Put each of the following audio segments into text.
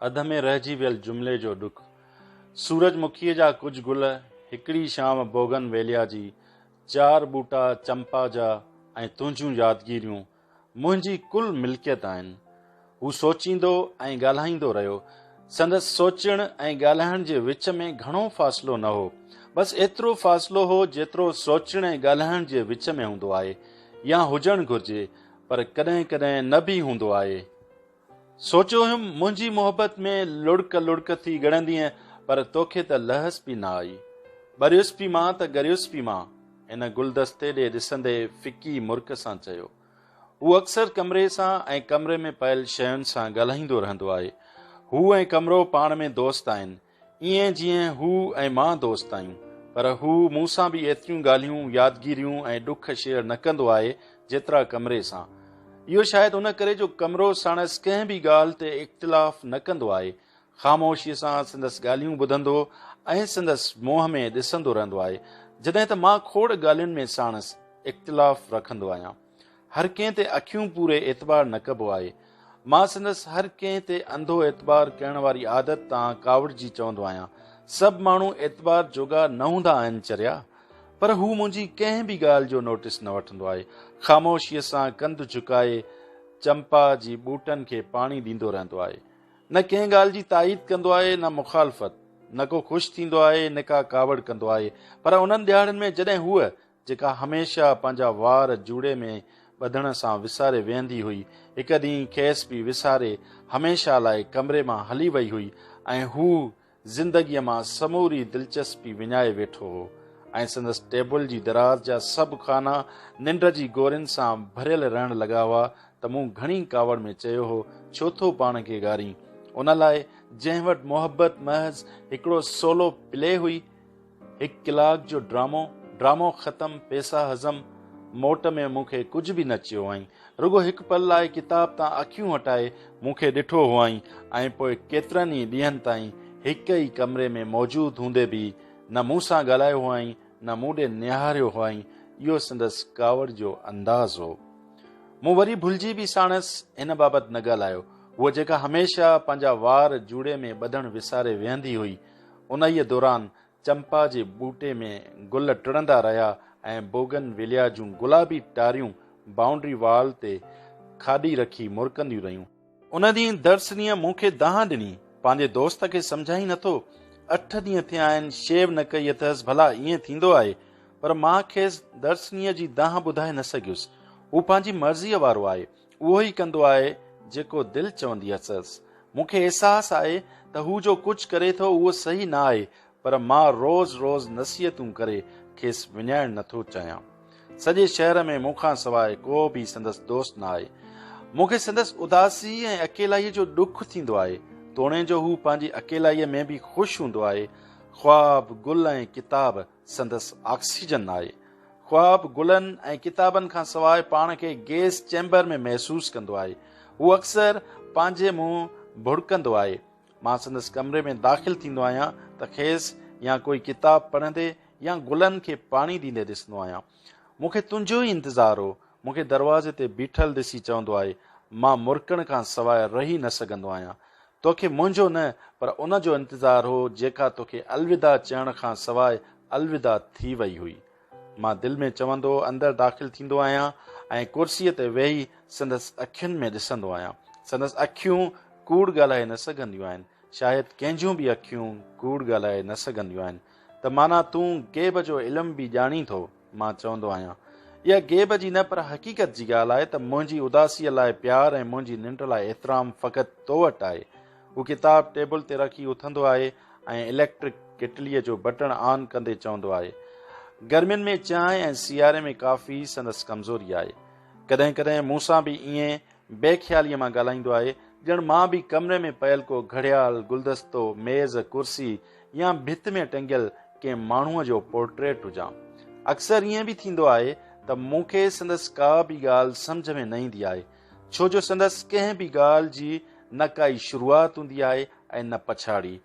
اڌ ۾ رهجي ويل جملي جو ڏک. سورج مکيء جا ڪجهه گل، هڪڙي شام بوگن ويليا جي، چار ٻوٽا چمپا جا ۽ تنهنجون يادگيريون منهنجي ڪل ملڪيت آهن. هو سوچيندو ۽ ڳالهائيندو رهيو. سندس سوچڻ ۽ ڳالهائڻ جي وچ ۾ گهڻو فاصلو نه هو. بس ايترو فاصلو هو جيترو سوچڻ ۽ ڳالهائڻ جي وچ ۾ هوندو آهي يا هجڻ گهرجي پر ڪڏهن ڪڏهن نه به هوندو آهي. سوچيو هيم منهنجي محبت ۾ لڙڪ لڙڪ ٿي ڳڙندينء پر توکي ته لهس پي نه آئي. ٻريس پي مان ته ڳريس پي مان. هن گلدستي ڏي ڏسندي فڪي مرڪ سان چيو. هو اڪثر ڪمري سان ۽ ڪمري ۾ پيل شين سان ڳالهائيندو رهندو آهي. هو ۽ ڪمرو پاڻ ۾ دوست آهن. ائين جيئن هو ۽ مان دوست آهيون. پر هو مون سان به ايتريون ڳالهيون، يادگيريون ۽ ڏک شيئر نه ڪندو آهي، جيترا ڪمري سان. اهو شايد ان ڪري جو ڪمرو ساڻس ڪنهن به ڳالهه تي اختلاف نه ڪندو آهي. خاموشيء سان سندس ڳالهيون ٻڌندو ۽ سندس منهن ۾ ڏسندو رهندو آهي. جڏهن ته مان کوڙ ڳالهين ۾ ساڻس اختلاف رکندو آهيان. هر ڪنهن تي اکيون پوري اعتبار نه ڪبو آهي. مان سندس هر ڪنهن تي انڌو اعتبار ڪرڻ واري عادت تان ڪاوڙجي چوندو آهيان، سڀ ماڻهو اعتبار جوڳا نه هوندا آهن چريا؟ پر هو منهنجي ڪنهن به ڳالهه جو نوٽس نه وٺندو آهي. خاموشيء سان ڪنڌ جهڪائي چمپا جي ٻوٽن کي پاڻي ڏيندو رهندو آهي. نه ڪنهن ڳالهه جي تائيد ڪندو آهي نه مخالفت. نه ڪو خوش ٿيندو آهي نه ڪا ڪاوڙ ڪندو آهي. پر انهن ڏهاڙن ۾ جڏهن هوء جيڪا هميشه پنهنجا وار جوڙي ۾ ٻڌڻ سان وساري ويهندي هئي، هڪ ڏينهن کيس به وساري هميشه لاء ڪمري مان هلي وئي هئي ۽ هو زندگيء مان سموري دلچسپي وڃائي ويٺو هو ۽ سندس ٽيبل جي دراز جا سڀ خانا ننڊ جي گورين سان ڀريل رهڻ لڳا هئا ته مون گهڻي ڪاوڙ ۾ چيو هو، ڇو ٿو پاڻ کي گارين؟ ان لاء جنهن وٽ محبت محض هڪڙو سولو پلي هئي. هڪ ڪلاڪ جو ڊرامو ڊرامو ختم پيسا هضم موٽ ۾ مون کي ڪجهه به نه چيو هئائين رڳو هڪ پل لاء ڪتاب تان اکيون هٽائي مون کي ڏٺو هئائين ۽ پوء ڪيترن ئي ڏينهن تائين هڪ ئي ڪمري ۾ موجود هوندي به نه مون سان ڳالهايو هئائين نه مون ڏي نهاريو هئائين اهو سندس ڪاوڙ جو انداز هو مون وري ڀلجي به ساڻس هن بابت نه ڳالهايو هوء جيڪا هميشه پنهنجا وار جوڙي ۾ ٻڌڻ وساري ويهندي هئي انهيء دوران چمپا جي ٻوٽي ۾ گل ٽڙندا رهيا ۽ بوگن ويليا جون گلابي ٽاريون بائونڊري وال تي کاڏي رکي مرڪنديون رهيون. ان ڏينهن درسنيء مون کي دانهن ڏني، پنهنجي دوست کي سمجهائين نٿو، اٺ ڏينهن ٿيا آهن شيو نه ڪئي اٿس، ڀلا ائين ٿيندو آهي؟ پر مان کيس درسنيء جي دانهن ٻڌائي نه سگهيس. هو پنهنجي مرضيء وارو آهي. اهو ئي ڪندو آهي جيڪو دل چوندي اٿس. مون کي احساس آهي ته هو جو ڪجهه ڪري ٿو اهو صحيح نه آهي پر مان روز روز نصيحتون ڪري کيس وڃائڻ نه ٿو چاهيان. سڄي شهر ۾ مون کان سواء ڪو به سندس دوست نه آهي. مون کي سندس اداسي ۽ اڪيلائيء جو ڏک ٿيندو آهي. توڻي جو هو پنهنجي اڪيلائيء ۾ به خوش هوندو آهي. خواب، گل ۽ ڪتاب سندس آڪسيجن آهي. خواب گلن ۽ ڪتابن کان سواء پاڻ کي گيس چيمبر ۾ محسوس ڪندو آهي. هو اڪثر پنهنجي منهن ڀڙڪندو آهي. مان سندس ڪمري ۾ داخل ٿيندو آهيان ته کيس يا ڪوئي ڪتاب پڙهندي يا گلن کي پاڻي ڏيندي ڏسندو آهيان. مون کي تنهنجو ئي انتظار هو. مون کي دروازي تي بيٺل ڏسي چوندو آهي، مان مرڪڻ کان سواء رهي نه سگهندو آهيان. تو کي منهنجو نه پر ان جو انتظار هو جيڪا تو کي الوداع چئڻ کان سواء الوداع ٿي وئي هئي. مان دل ۾ چوندو اندر داخل ٿيندو آهيان ۽ ڪرسيء تي ويهي سندس اکين ۾ ڏسندو آهيان. سندس اکيون ڪوڙ ڳالهائي نه سگهنديون آهن. شايد ڪنهنجون به اکيون ڪوڙ ڳالهائي نه سگهنديون آهن. ته معنيٰ تون غيب جو علم به ڄاڻين ٿو؟ مان چوندو آهيان، اها غيب جي نه پر حقيقت جي ڳالهه آهي ته منهنجي اداسيء لاء پيار ۽ منهنجي ننڊ لاء احترام فقط تو وٽ آهي. هو ڪتاب ٽيبل تي رکي اٿندو آهي ۽ اليڪٽرڪ ڪيٽليء جو بٽڻ آن ڪندي چوندو آهي. گرمين ۾ چانهه ۽ سياري ۾ ڪافي سندس ڪمزوري آهي. ڪڏهن ڪڏهن مون سان به ائين بي خياليء مان ڳالهائيندو آهي، ڄڻ مان به ڪمري ۾ پيل ڪو گهڙيال، گلدستو، ميز، ڪرسي يا ڀت ۾ ٽنگيل ڪنهن ماڻهوء جو پورٽريٽ هجان. اڪثر ائين به ٿيندو آهي ته مون کي سندس ڪا به ڳالهه سمجهه ۾ نه ايندي آهي، ڇو جو سندس ڪنهن به ڳالهه جي نه ڪائي شروعات هوندي آهي ۽ نه پڇاڙي.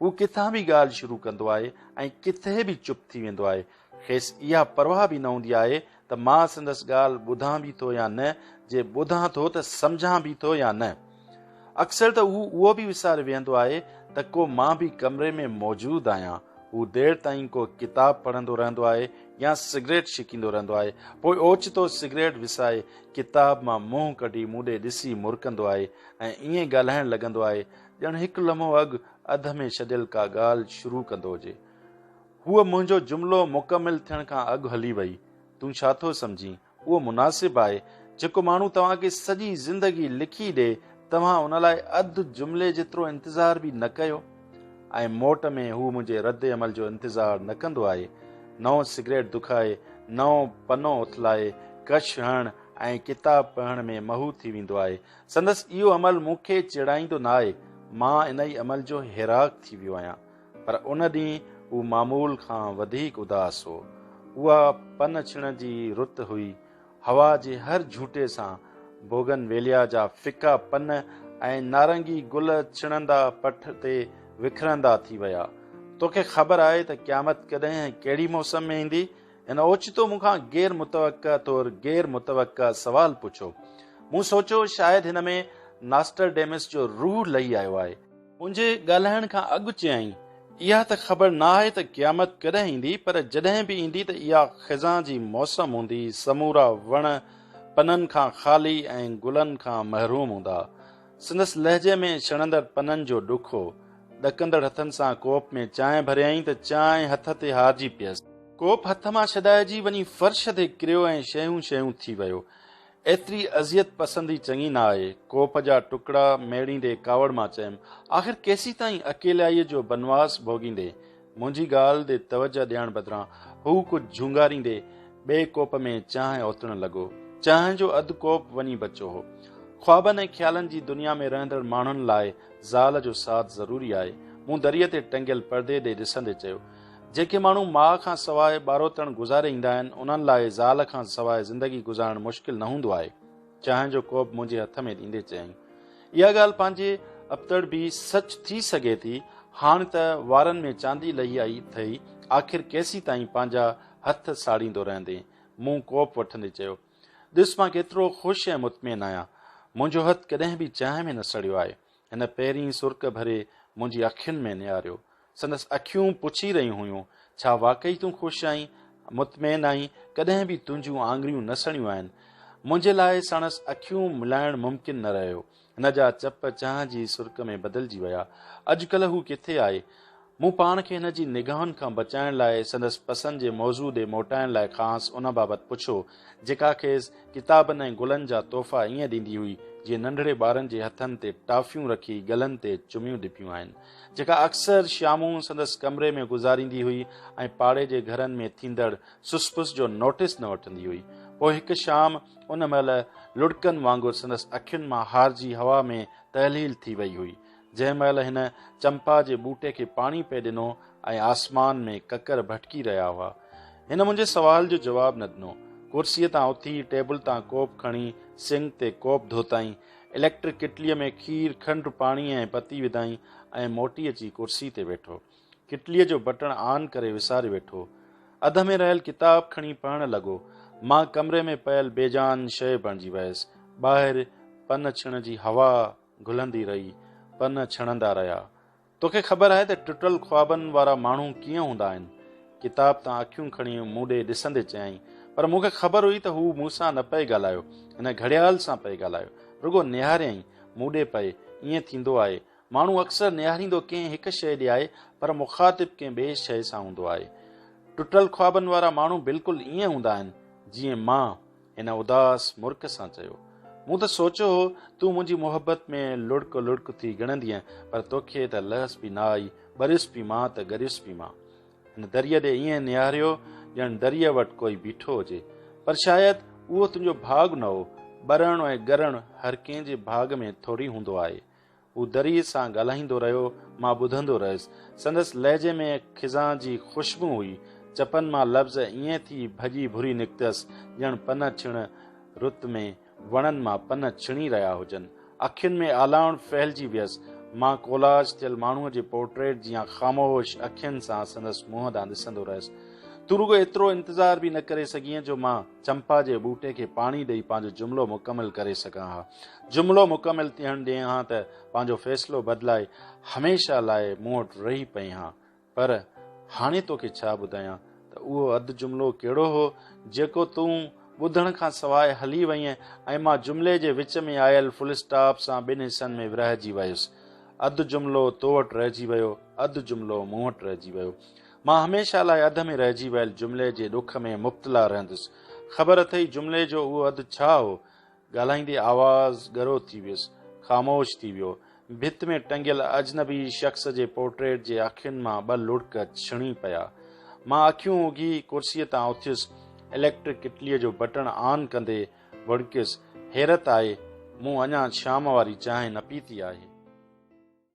هو ڪٿان به ڳالهه شروع ڪندو آهي ۽ ڪٿي به چپ ٿي ويندو آهي. کيس اها پرواهه به نه هوندي آهي ته مان سندس ڳالهه ٻڌان به ٿو يا نه، جي ٻڌان ٿو ته سمجهان به ٿو يا نه. اڪثر ته هو اهو به وساري ويهندو آهي ته ڪو مان به ڪمري ۾ موجود آهيان. هو دير تائين ڪو ڪتاب پڙهندو رهندو آهي يا سگريٽ ڇڪيندو رهندو آهي. پوء اوچتو سگريٽ وسائي ڪتاب مان منهن ڪڍي مون ڏي ڏسي مرڪندو آهي ۽ ائين ڳالهائڻ لڳندو آهي ڄڻ هڪ لمحو اڳ اڌ ۾ ڇڏيل ڪا ڳالهه شروع ڪندو هجي. هوء منهنجو جملو مڪمل ٿيڻ کان اڳ هلي وئي. تون ڇا ٿو سمجهين، اهو مناسب آهي؟ جيڪو ماڻهو توهان کي سڄي زندگي لکي ڏئي، توهان ان لاء اڌ جملي جيترو انتظار به نه ڪيو؟ ۽ موٽ ۾ هو منهنجي رد عمل جو انتظار نه ڪندو آهي. نئون سگريٽ دکائي، نئون پنو اٿلائي، ڪش هڻڻ ۽ ڪتاب پڙهڻ ۾ محو ٿي ويندو آهي. سندس اهو عمل مون کي چيڙائيندو نه آهي. مان انهي عمل جو هيراڪ ٿي ويو آهيان. پر ان ڏينهن هو معمول کان وڌيڪ اداس هو. اها پن ڇڻ جي رت هئي. هوا جي هر جهوٽي سان بوگن ويليا جا ڦڪا پن ۽ نارنگي گل ڇڻندا پٺ تي وکرندا ٿي ويا. تو کي خبر آهي ته قيامت ڪڏهن ۽ ڪهڙي موسم ۾ ايندي؟ هن اوچتو مون کان غير متوقع طور غير متوقع سوال پڇيو. مون سوچيو شايد هن ۾ ناسٽرڊيمس جو روح لهي آيو آهي. منهنجي ڳالهائڻ کان اڳ چيائين، اها ته خبر نه آهي ته قيامت ڪڏهن ايندي، پر جڏهن به ايندي ته اها خزان جي موسم هوندي، سمورا وڻ پنن کان خالي ۽ گلن کان محروم هوندا. سندس لهجي ۾ ڇڻندڙ پنن جو ڏک هو. ڏڪندڙ هٿن سان ڪوپ ۾ چانهه ڀريائين ته چانهه هٿ تي هارجي پيس. ڪوپ هٿ مان ڇڏائجي وڃي فرش تي ڪريو ۽ شيون شيون ٿي ويو. ايتري اذيت پسندي چڱي نه آهي. ڪوپ جا ٽڪڙا ميڙيندي ڪاوڙ مان چيم، آخر ڪيسيتائين اڪيلائيء جو بنواس ڀوڳيندي؟ منهنجي ڳالهه تي توجهه ڏيڻ بدران هو ڪجهه جهونگاريندي ٻئي ڪوپ ۾ چانهه اوتڻ لڳو. چانهه جو اڌ ڪوپ وڃي بچو هو. خوابن ۽ خيالن جي دنيا ۾ رهندڙ ماڻهن لاء زال جو ساٿ ضروري آهي. مون دريء تي ٽنگيل پردي ڏي ڏسندي چيو، جيڪي ماڻهو ماء کان سواء ٻاروتڻ گذاري ايندا آهن، انهن لاء زال کان سواء زندگي گذارڻ مشڪل نه هوندو آهي. چانهه جو ڪوپ منهنجي هٿ ۾ ڏيندي چيائين. اها ڳالهه پنهنجي ابتڙ به سچ ٿي سگهي ٿي. هاڻ ته وارن ۾ چاندي لهي آئي اٿئي، آخر ڪيسين تائين پنهنجا هٿ ساڙيندو رهندين؟ مون ڪوپ وٺندي چيو. ڏس مان ڪيترو خوش ۽ مطمئن آهيان. منهنجو هٿ ڪڏهن به چانهه ۾ نه سڙيو آهي. هن پهرين سرڪ ڀري منهنجي اکين ۾ نهاريو. سندس اکيون پڇي رهيون هيون، ڇا واقعي تون خوش آهين؟ مطمئن آهين؟ ڪڏهن به تنهنجون آڱريون نه سڻيون آهن؟ منهنجي لاء ساڻس اکيون ملائڻ ممڪن نه رهيو. هن جا چپ چانهه جي سرڪ ۾ بدلجي ويا. اڄڪلهه هو ڪٿي آهي؟ مون پاڻ کي هن جي نگاهن کان بچائڻ لاء سندس پسند جي موضوع ڏي موٽائڻ لاء کانئس ان بابت پڇيو، جيڪا کيس ڪتابن ۽ گلن جا تحفا ائين ڏيندي هئي، جيئن ننڍڙي ٻارن جي هٿن تي ٽافيون رکي ڳلن تي چميون ڏبيون آهن. جيڪا اڪثر شامون سندس ڪمري ۾ گذاريندي هئي ۽ پاڙي جي گهرن ۾ ٿيندڙ سس پس جو نوٽس نه وٺندي هئي. پوء هڪ شام ان مهل لڙڪن وانگر سندس اکين مان هارجي هوا ۾ تحليل ٿي وئي هئي، جنهن مهل هن چمپا جي ٻوٽي کي پاڻي پئي ڏنو ۽ آسمان ۾ ڪڪر ڀٽڪي رهيا هئا. هن منهنجي سوال جو جواب نه ڏنو. ڪرسيء تان اٿي ٽيبل تان ڪوپ کڻي سنڪ تي ڪوپ ڌوتائين اليڪٽرڪ ڪٽليء ۾ کير، کنڊ، پاڻي ۽ پتي وڌائين ۽ موٽي اچي ڪرسي تي ويٺو. ڪٽليء جو بٽڻ آن ڪري وساري ويٺو. اڌ ۾ رهيل ڪتاب کڻي پڙهڻ لڳو. مان ڪمري ۾ پيل بي جان شيء بڻجي ويس. ٻاهر پن ڇڻ جي هوا گهلندي رهي. پن ڇڻندا رهيا. توکي خبر آهي ته ٽٽل خوابن وارا ماڻهو ڪيئن هوندا آهن؟ ڪتاب تان اکيون کڻي مون ڏي ڏسندي چيائين. پر مون کي خبر هئي ته هو مون سان نه پئي ڳالهايو، هن گهڙيال سان پئي ڳالهايو. رڳو نهاريائين، مون ڏي پئي. ائين ٿيندو آهي. ماڻهو اڪثر نهاريندو ڪنهن هڪ شيء ڏي آهي، پر مخاطب ڪنهن ٻئي شيء سان هوندو آهي. ٽٽل خوابن وارا ماڻهو بلڪل ائين هوندا آهن، جيئن مان. هن اداس مرڪ سان چيو. مون ته سوچيو هو تون منهنجي محبت ۾ لڙڪ لڙڪ ٿي گڻندينء پر توکي ته لهس به نه آئي، ٻريس به مان ته ڳريس به مان. هن دريء ڏي ائين نهاريو ڄڻ دريء وٽ ڪوئي بيٺو هجي. پر شايد اهو تنهنجو ڀاڳ نه هو. ٻرڻ ۽ ڳرڻ هر ڪنهن جي ڀاڳ ۾ ٿوري هوندو آهي. هو دريء سان ڳالهائيندو رهيو، مان ٻڌندو رهيس. سندس لهجي ۾ خزان جي خوشبو هئي. چپن مان لفظ ائين ٿي ڀڄي ڀري نڪتس، ڄڻ پن ڇڻ رت ۾ وڻن مان پن ڇڻي رهيا هجن. اکين ۾ آلاوڻ ڦهلجي ويس. مان ڪولاج ٿيل ماڻهوء جي پورٽريٽ جيان خاموش اکين سان سندس منهن ڏانهن ڏسندو رهيس. تون رڳو ايترو انتظار به نه ڪري سگهين جو مان. چمپا جي ٻوٽي کي پاڻي ڏئي پنهنجو جملو مڪمل ڪري سگهان ها. جملو مڪمل ٿيڻ ڏئين هان ته پنهنجو فيصلو بدلائي هميشه لاء مون وٽ رهي پئين هان. پر هاڻي توکي ڇا ٻڌايان ته اهو اڌ جملو ڪهڙو هو جيڪو تون ٻڌڻ کان سواء هلي وئينء ۽ مان جملي جي وچ ۾ آيل فل اسٽاپ سان ٻن حصن ۾ ورهجي ويس. اڌ جملو تو وٽ رهجي ويو، اڌ جملو مون وٽ رهجي ويو. مان هميشه لاء اڌ ۾ رهجي ويل جملي جي ڏک ۾ مبتلا رهندس. خبر اٿئي جملي جو اهو اڌ ڇا هو؟ ڳالهائيندي آواز ڳرو ٿي ويس. خاموش ٿي ويو. ڀت ۾ ٽنگيل اجنبي شخص جي پورٽريٽ جي اکين مان ٻه لڙڪ ڇڻي پيا. مان اکيون اگهي ڪرسيء تان اٿيس. اليڪٽرڪ ڪٽليء جو بٽڻ آن ڪندي وڻڪيس، حيرت آهي مون اڃا شام واري چانهه نه پيتي آهي.